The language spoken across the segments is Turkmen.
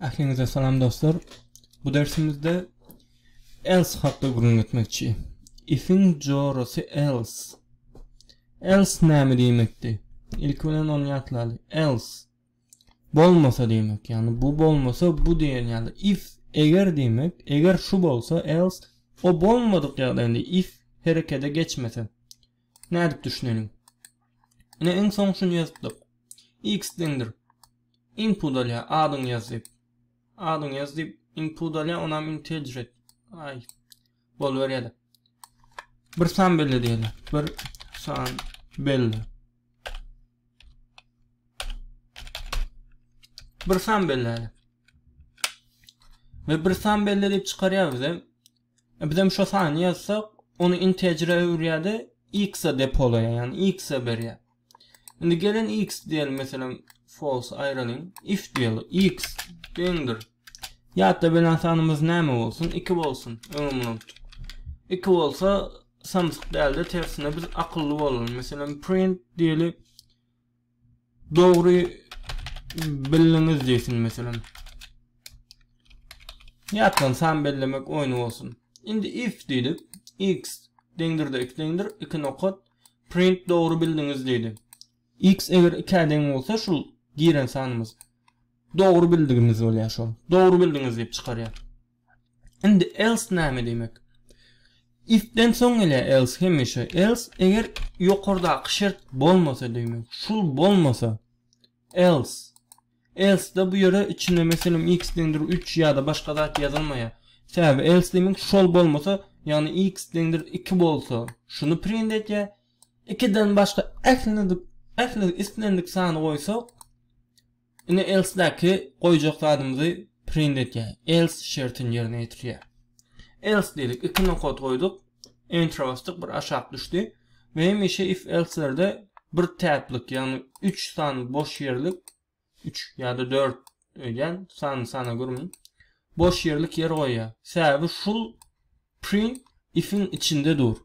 Ähliňize salam dostlar. Bu dersimizde else hakda gürrüň etmekçi. Ifiň jorasy else. Else näme diýmekdi? Ilki bilen ony ýatlaýly. Else bolmasa diýmek. Ýagny bu bolmasa bu diýen ýaly. If eger diýmek. Eger şu bolsa else o bolmadyk ýagdaýynda if herekete geçmese. Nädip düşüneliň? Ine iň soň şuny ýazypdyk. X deňdir. Input alýa, adyňy ýaz diýip. Adyňy ýaz diýip input alýa, onam integer et. Aý. Boluberýär. Bir san belle diýeli. Bir san belle. Bir san belle. Ve bir san belle diýip çykarýar bize. Bizem şo sany ýazsak, ony integere öwürýär-de, x-a depolaýar, ýagny x-a berýär. Indi geliň x diýeli, meselem, false aýralyň, if diýeli, x deňdir. Ýatda beren sanymyz näme bolsun? Iki bolsun, öňem unutdyk. Iki bolsa, samsyk däl-de, tersine biz akylly bolalyň. Meselem, print diýeli. Dogry bildiňiz diýsin meselem. Ýatdan san bellemek oýny bolsun. Indi if diýdik. X deňdir-de x deňdir, iki nokat, print dogry bildiňiz diýdi. X eger 2-ä deň bolsa şul giren sanymyz dogry bildigimiz bolýar şol. Dogry bildiňiz diýip çykarýar. Indi else näme diýmek? Ifden soň gele else hemişe. Else eger ýokardaky şert bolmasa diýmek. Şul bolmasa else. Else-de bu ýere içine meselem x deňdir 3 ýa-da başga zat ýazylmaýar. Sebäbi else diýmek şol bolmasa, ýagny x deňdir 2 bolsa, şuny print etýär. 2-den başga ähli ähli islendik sany goýsak, Indi else-däki goýjak zadymyzy print etýär. Else şertini ýerine ýetirýär. Else diýdik, iki nokat goýduk, Enter basdyk, bir aşak düşdi we hemişe if-elselerde bir täplik, ýagny üç sany boş ýerlik, üç ýa-da dört öýdýän, sanyny sanap görmedim, boş ýerlik ýer goýýar. Sebäbi şul print if-iň içinde dur.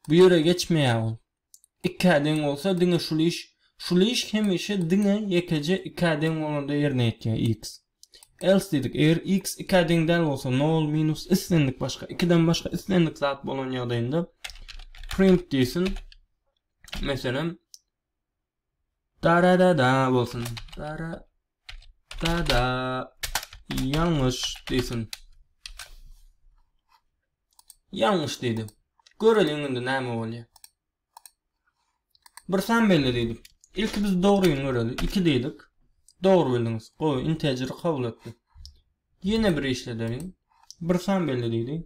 Bu ýere geçmeýär ol. ikä deň bolsa diňe şul iş şul iş hemişe diňe ýekeje ikä deň bolanda ýerine ýetýär x else diýdik eger x ikä deň däl bolsa nol minus islendik başga ikiden başga islendik zat bolan ýagdaýynda print diýsin meselem Dararara bolsun. Dara dada ýalňyş diýsin. Ýalňyş diýdi. Göreliň indi näme bolýar. Bir san belli diýdik. Ilki biz dogryny göreli. 2 diýdik. Dogry bildiňiz. Gowy, integer kabul etdi. Ýene bir işledeliň. Bir san belli diýdi.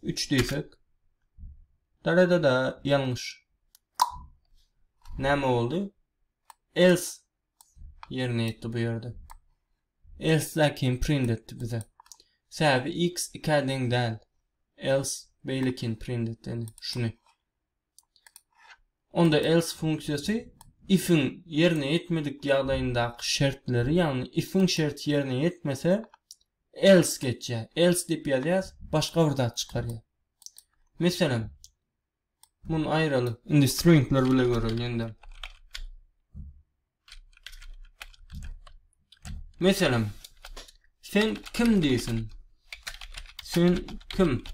3 diýsek. Darada-da ýalňyş. Näme boldy? Else ýerine ýetdi bu ýerde. Else lakin print etdi bize. Sebäbi x 2-ä deň däl. Else beýlekini print etdi. Şuny. onda else funksiýasy if-iň ýerine ýetmedik ýagdaýyndaky şertleri, ýagny if-iň şerti ýerine ýetmese, else geçýär. Else diýip ýazýas, başga bir zat çykarýar. Meselem, muny aýralyk, indi stringler bile göreliň ýene-de. Meselem, sen kim diýsin? Sen kim?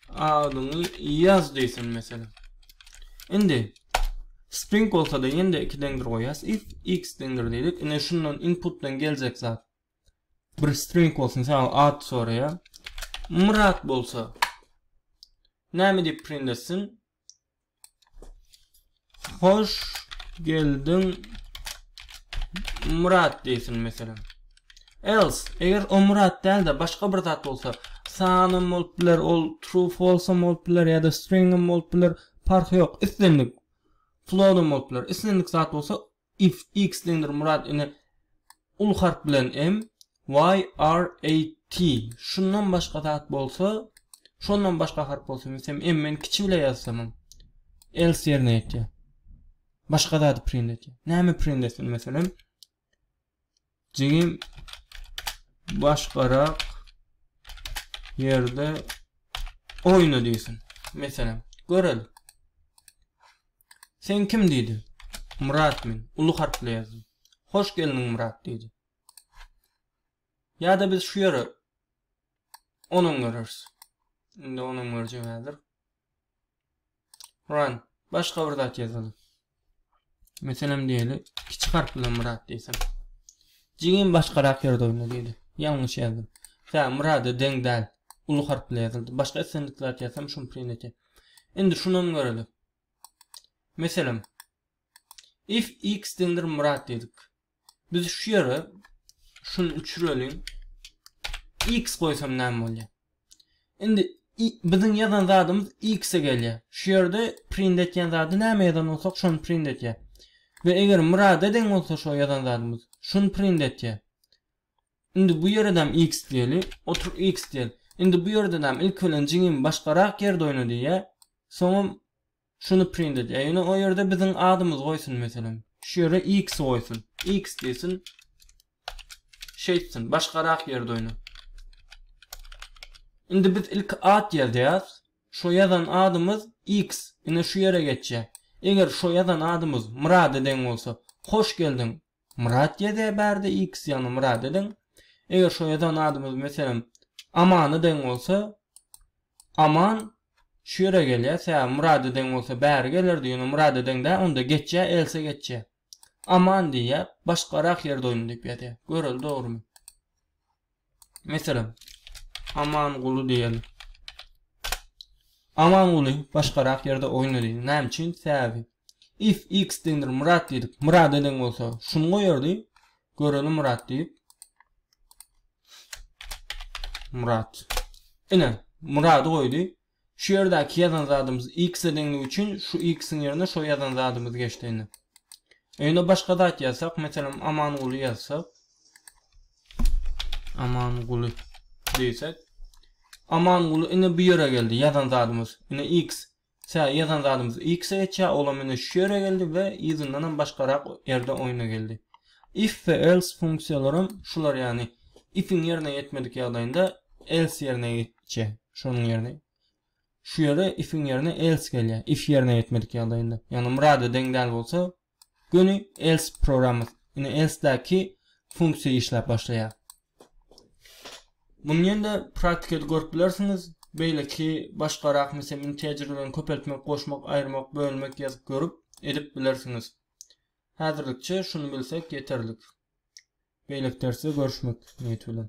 Adyňy ýaz diýsin meselem. Indi string bolsa-da ýene-de iki deňdir goýýas. If x deňdir diýdik. Indi şundan inputdan geljek zat bir string bolsun, sen ad soraýar. Myrat bolsa näme diýip print etsin? Hoş geldiň Murat diýsin meselem. Else, eger o Murat däl-de başga bir zat bolsa, sanym bolup biler, ol true false bolup biler ýa-da string bolup biler, parhy ýok. Islendik float bolup biler. Islendik zat bolsa, FX diýendir Murat ine ul harp bilen M Y R A T şundan başga zat bolsa şondan başga harp bolsa meselem M men kiçi bile ýazsamam else ýerine ýetýär başga zady print etýär näme print etsin meselem Jigim başgarak yerde oyna diýsin. Meselem, göreli. Sen kim diýdi? Murat men. Uly harply ýazdy. Hoş geldiň Murat diýdi. Ýa-da biz şu ýere onuň görürs. Indi onuň görjek häzir. Run. Başga bir zat ýazalyň. Meselem diýeli, kiçi harp bilen Myrat diýsem. Jigim başgarak ýerde oýna diýdi. Ýalňyş ýazdym. Tä Myrada deň däl. Uly harp bilen ýazyldy. Başga islendik zat ýazsam şuny print etýär. Indi şunam göreli. Meselem. If x deňdir Myrat diýdik. Biz şu ýere şuny üçüreliň. X goýsam näme bolýar? Indi biziň ýazan zadymyz X-e gelýär. Şu ýerde print etýän zady näme ýazan bolsak şony print etýär. Ve eger murada deň bolsa şu ýazan zadymyz şuny print etýär. Indi bu ýeredem X diýeli, otur X diýeli. Indi bu ýerde näme ilk bilen jigim başgarak ýerde oýna diýýär. Soňam Şuny print et. Ýöne o ýerde biziň adymyzy goýsun meselem. Şu ýere X goýsun. X diýsin. Şeýtsin. Başgarak ýerde oýna. Indi biz ilki at ýazýas. Şo ýazan adymyz X. Ine şu ýere geçýä. Eger şo ýazan adymyz Myrada deň bolsa. Hoş geldiň. Myrat ýazýar bärde X ýagny Myrat ediň. Eger şo ýazan adymyz meselem Amana deň bolsa Aman şu ýere gelýär sebäbi Myrada deň bolsa bäri gelerdi ýöne Myrada deň däl onda geçýär else geçýär. Aman diýýär başgarak ýerde oýna diýip ýazýar. Göreli dogrymy. Meselem, Amanguly diýeli. Amanguly başgarak ýerde oýnady. Näme üçin? Sebäbi if x deňdir Murat diýdik. Murada deň bolsa, şuny goýardy. Göreli Murat diýip. Murat. Ine, Murady goýdy. Şu ýerdäki ýazan zadymyz x-e deňligi üçin şu x-iň ýerine şo ýazan zadymyz geçdi indi. Öýüne başga zat ýazsak, meselem, Amanguly ýazsak. Amanguly diýsek. Amanguly indi bu ýere geldi ýazan zadymyz. Indi x Sä ýazan zadymyz x-e geçýär, ol hem indi şu ýere geldi we yzyndan hem başgarak ýerde oýna geldi. If we else funksiýalaram şular ýagny if-iň ýerine ýetmedik ýagdaýynda else ýerine ýetdi. Çe, şonuň ýerine şu ýere if-iň ýerine else gelýär, if ýerine ýetmedik ýagdaýynda. Ýagny murada deň däl bolsa, göni else programmasy, indi else-däki funksiýa işläp başlaýar. Muny ýene-de praktikada görüp bilersiňiz, beýleki başgarak meselem integerlerini köpeltmek, goşmak, aýyrmak, bölmek ýazyp görüp, edip bilersiňiz. Häzirlikçe şuny bilsek ýeterlik. Beýleki dersde görüşmek niýeti bilen.